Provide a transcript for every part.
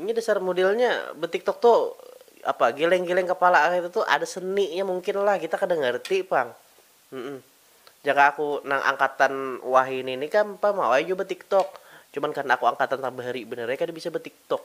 Ini dasar modelnya betiktok tu apa gileng-gileng kepala kaytu tu ada seninya mungkin lah kita kada ngerti pang. Jaka aku nang angkatan wahini ni kam pamawai jua betiktok, cuman karna aku angkatan tabahari banar ai kada bisa betiktok.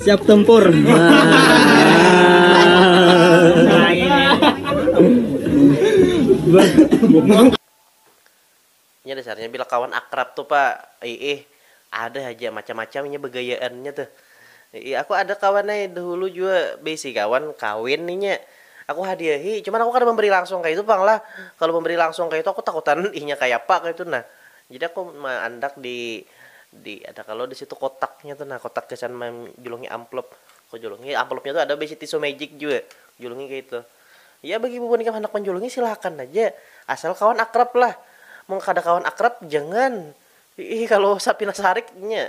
Siap tempur. Nya dasarnya bila kawan akrab tu pa iih ada haja macam-macam inya begayaannya tuh. Iih aku ada kawan ai dahulu jua beisi kawan kawin inya aku hadiahi cuman aku kada memberi langsung kaitu pang lah, kalu memberi langsung kaitu aku takutan inya kayapa kaitu nah. Jadi aku maandak di di ada kalo di situ kotaknya tu nah kotak gasan manjulungi amplop aku julungi amplopnya tu ada baisi tisu magic jua julungi kaitu ya bagi bubuhan ikam handak manjulungi silakan haja asal kawan akrab lah mun kada kawan akrab jangan kalo usah pina sarik nya.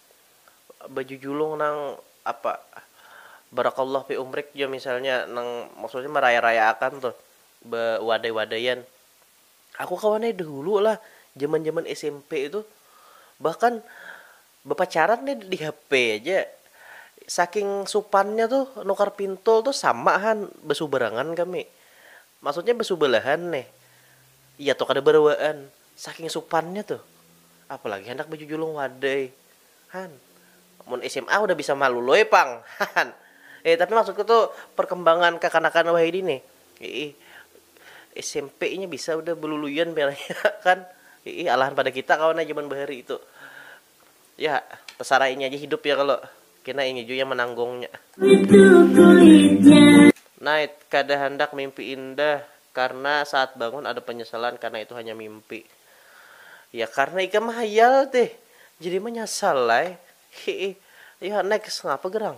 baju julung nang apa barakallah fi umrik ja misalnya nang maksudnya maraya-rayaakan tuh ba wadai-wadaian aku kawan ai dahulu lah jaman-jaman smp itu bahkan bapacaran nih di HP aja saking supannya tuh nukar pintul tuh sama han basubarangan kami maksudnya basubalahan nih iya tuh kada barawaan. Saking supannya tuh. Apalagi handak bajujulung wadai. Han. Mun sma udah bisa malu loi pang. Hahan. Eh tapi maksudku tuh perkembangan kakanakan wahidi nih. Iih. Smp inya bisa udah beluluian pina inya kan. Iih alahan pada kita kawan ai jaman bahari tuh. Ya, tasarai inya ja hidup ya kalo, kena inya jua yang mananggungnya. Night, kada handak mimpi indah karna saat bangun ada penyesalan karna itu hanya mimpi. Ya karna ikam mahayal tih, jadi manyasal ai. Hiih. Yah next, ngapa gerang?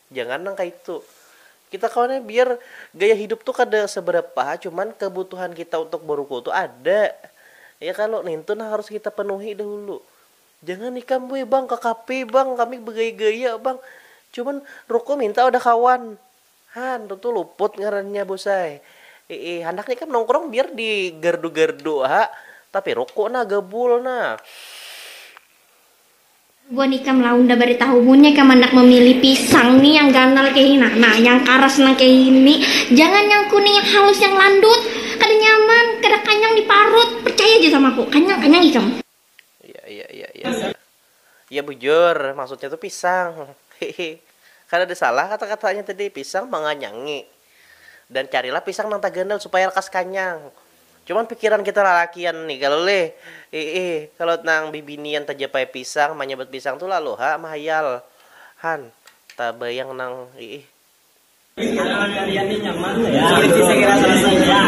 Jangan nang kaitu. Kita kawan ai biar gaya hidup tu kada seberapa ha, cuman kebutuhan kita untuk berukul tu ada. Ya kalo, nintu nang harus kita penuhi dahulu. Jangan ikam weh bang ke kafe bang, kami begaya-gaya bang. Cuman rukul minta wadah kawan. Ha, ntu tu luput ngarannya bos ai. Iih, handaknya ikam nongkrong biar di gardu-gardu ha, tapi rukuk nah, gabul nah. Bubuhan ikam lah unda baritahu, munnya ikam handak mamilih pisang ni yang ganal kaya ini nah, nah yang karas nang kaya ini, jangan yang kuning yang halus yang landut, kada nyaman, kada kanyang di parut, percaya ja sama aku, kanyang kanyang ikam. Iya iya iya iya iya iya bujur maksudnya tu pisang hihi kada ada salah kata katanya tadi pisang manganyangi dan carilah pisang nang taganal supaya lakas kanyang. Cuman pikiran kita lalakian ni kalu lih, iih kalu nang bibinian tajapai pisang manyabat pisang tu lalu ha mahayal han tabayang nang iih. Halaman kalian ni nyaman nggak ya? Sulit sih sekira selesai nya.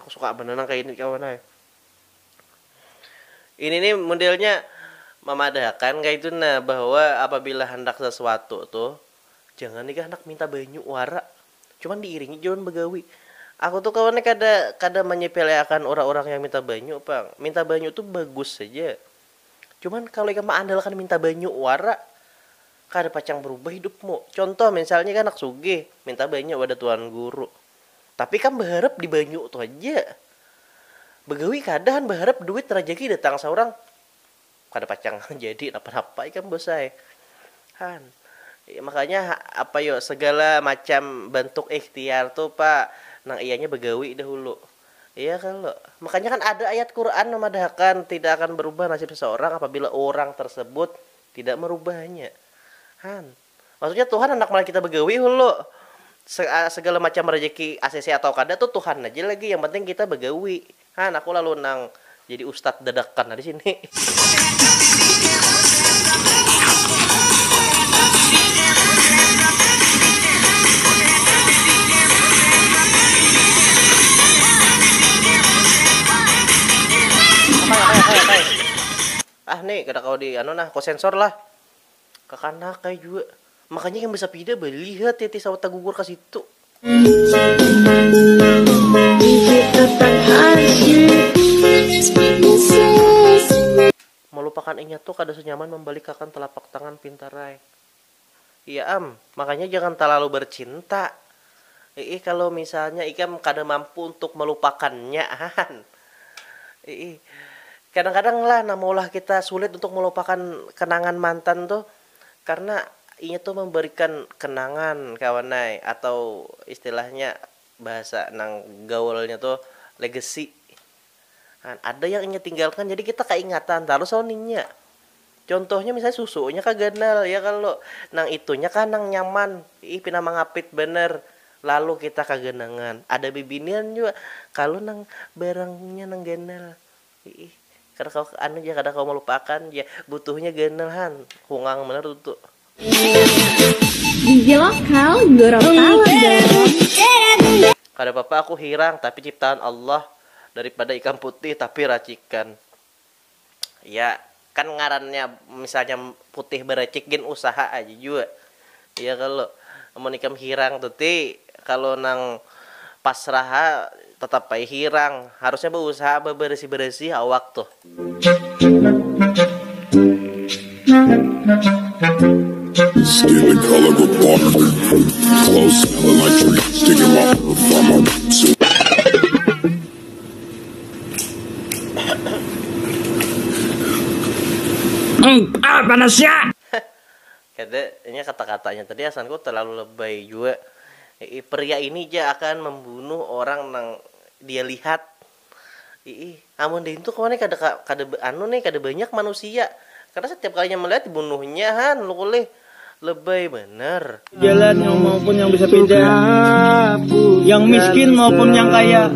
Aku suka banar nang kaya ini kawan ai. Ini ni modelnya mamadahakan kaitu nah bahwa apabila handak sasuatu tu jangan ikam handak minta banyu wara cuman diiringi ja wan bagawi. Aku tu kawan nih kada kada manyepeleakan urang-urang yang minta banyu pang. Minta banyu tu bagus haja. Cuman kalo ikam maandalkan minta banyu wara kada pacang barubah hidupmu. Contoh misalnya ikam handak sugih minta banyu wadah tuan guru. Tapi kam baharap di banyu tu haja. Bagawi kada han baharap duit rajaki datang saurang. Kada pacang jadi napa napa ikam bos ai. Han. Makanya apa yo segala macam bantuk ikhtiar tu pa nang iyanya bagawi dahulu. Iya kalo. Makanya kan ada ayat Quran mamadahakan tidak akan berubah nasib seseorang apabila urang tersebut tidak merubahnya. Han. Maksudnya Tuhan handak malihat kita bagawi hulu. Segala macam rejeki acc atau kada tu Tuhan aja lagi yang penting kita bagawi. Han aku lalu nang jadi ustad dadakan di sini. Ah ni kada kawa di anu nah ku sensor lah. Kakanak kaya jua. Makanya yang besapida beli ha titi sawat tagugur ka situ. Malupakan inya tu kada senyaman mambalikakan telapak tangan pintarai. Iya am, makanya jangan talalu bercinta. Iih kalu misalnya ikam kada mampu untuk melupakannya han. Iih kadang kadang lah nang maulah kita sulit untuk melupakan kenangan mantan tu karena inya tu memberikan kenangan kawan ai atau istilahnya bahasa nang gaulnya tu legacy. Nah, ada yang inya tinggalkan jadi kita kaingatan tarus lawan inya. Contohnya misalnya susunya kah ganal ya kalo, nang itunya kah nang nyaman, ih pina mangapit banar, lalu kita kaganangan. Ada bibinian jua, kalu nang barangnya nang ganal, iih kada kawa anu ja kada kawa malupaakan ja, butuhnya ganal han, hungang banar tutu. Gizi lokal Gorontalo dong. Kada papa aku hirang tapi ciptaan Allah daripada ikam putih tapi racikan. Iya kan ngarannya misalnya putih baracik gin usaha aja jua iya kalo amun ikam hirang tu ti kalo nang pasrah ha tetap ai hirang harusnya bausaha babarasih-barasih awak tuh. Kada, inya kata-katanya tadi asanku talalu lebay jua. Pria ini ja akan membunuh orang nang dia lihat. Iih, amun dintu kawan kada ka kada ba anu nih kada banyak manusia, karna satiap kalinya malihat dibunuhnya ha nuluk ulih, lebay banar. Jalan yang maupun yang besepeda, yang miskin maupun yang kaya,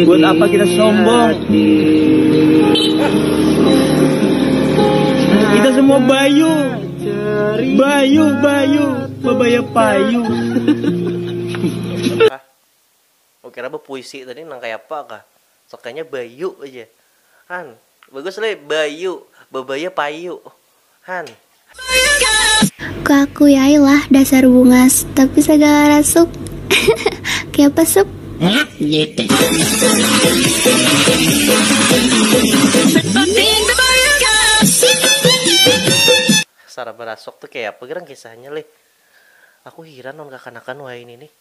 buat apa kita sombong, kita semua bayu, bayu, bayu, babaya payu. Aku kira bepuisi tadi nang kaya apa kah. Sekalinya bayu aja. Han. Bagus lih, bayu. Bebaya payu. Han. Ku akui ai lah dasar bungas, tapi sagala rasuk. Kaya apa sup? Saraba rasuk tu kaya apa gerang kisahnya lih. Aku hiran lawan kakanakan wahini nih.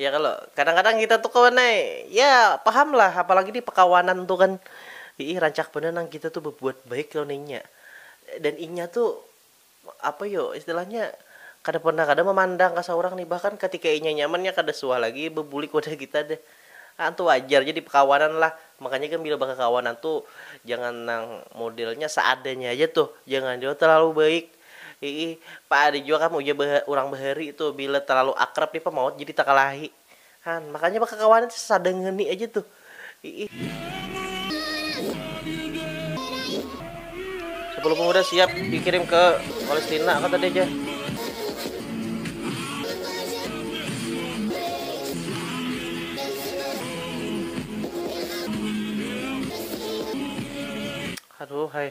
Ya kalo, kadang-kadang kita tuh kawan ai, ya paham lah apalagi di pekawanan tuh kan, iih rancak banar nang kita tuh babuat baik lawan inya, dan inya tuh apa yo istilahnya kada pernah kada mamandang ka saurang nih, bahkan katika inya nyaman inya kada suah lagi babulik wadah kita deh, haan tuh wajar ja di pekawanan lah, makanya ikam bila bakakawanan tuh jangan nang modelnya seadanya haja tuh, jangan jua terlalu baik, Hihi, pa ada jua kam ujar ba urang bahari tuh bila talalu akrab nih pa maut jadi takalahi. Han, makanya bakakawanan tuh sada ngeni aja tuh. Hihi. Sepuluh pemuda siap dikirim ke Palestina kata dia aja. Aduh, hai.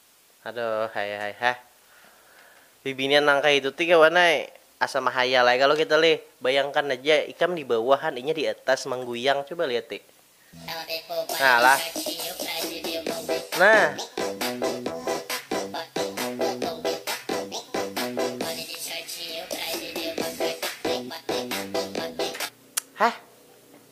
Aduh hai hai hah. Bibinian nang kaya itu ti kawan ai, asa mahayal ai kalo kita lih. Bayangkan aja ikam di bawah han inya di atas mangguyang coba lihati. Nah lah. Nah. Hah.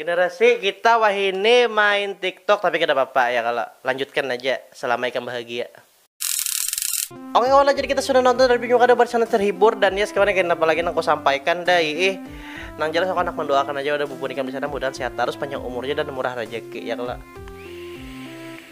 Generasi kita wahini main tiktok tapi kada papa ya kalo lanjutkan aja selama ikam bahagia. Oke kawan jadi kita sudah nonton review nyu kada buat sangat terhibur dan ya sekiranya kaina apa lagi nang ku sampaikan dai ih nang jelas aku handak mandoakan aja wadah bubun ikam disana mudahan sehat tarus panjang umurnya dan murah rejeki ya kalo.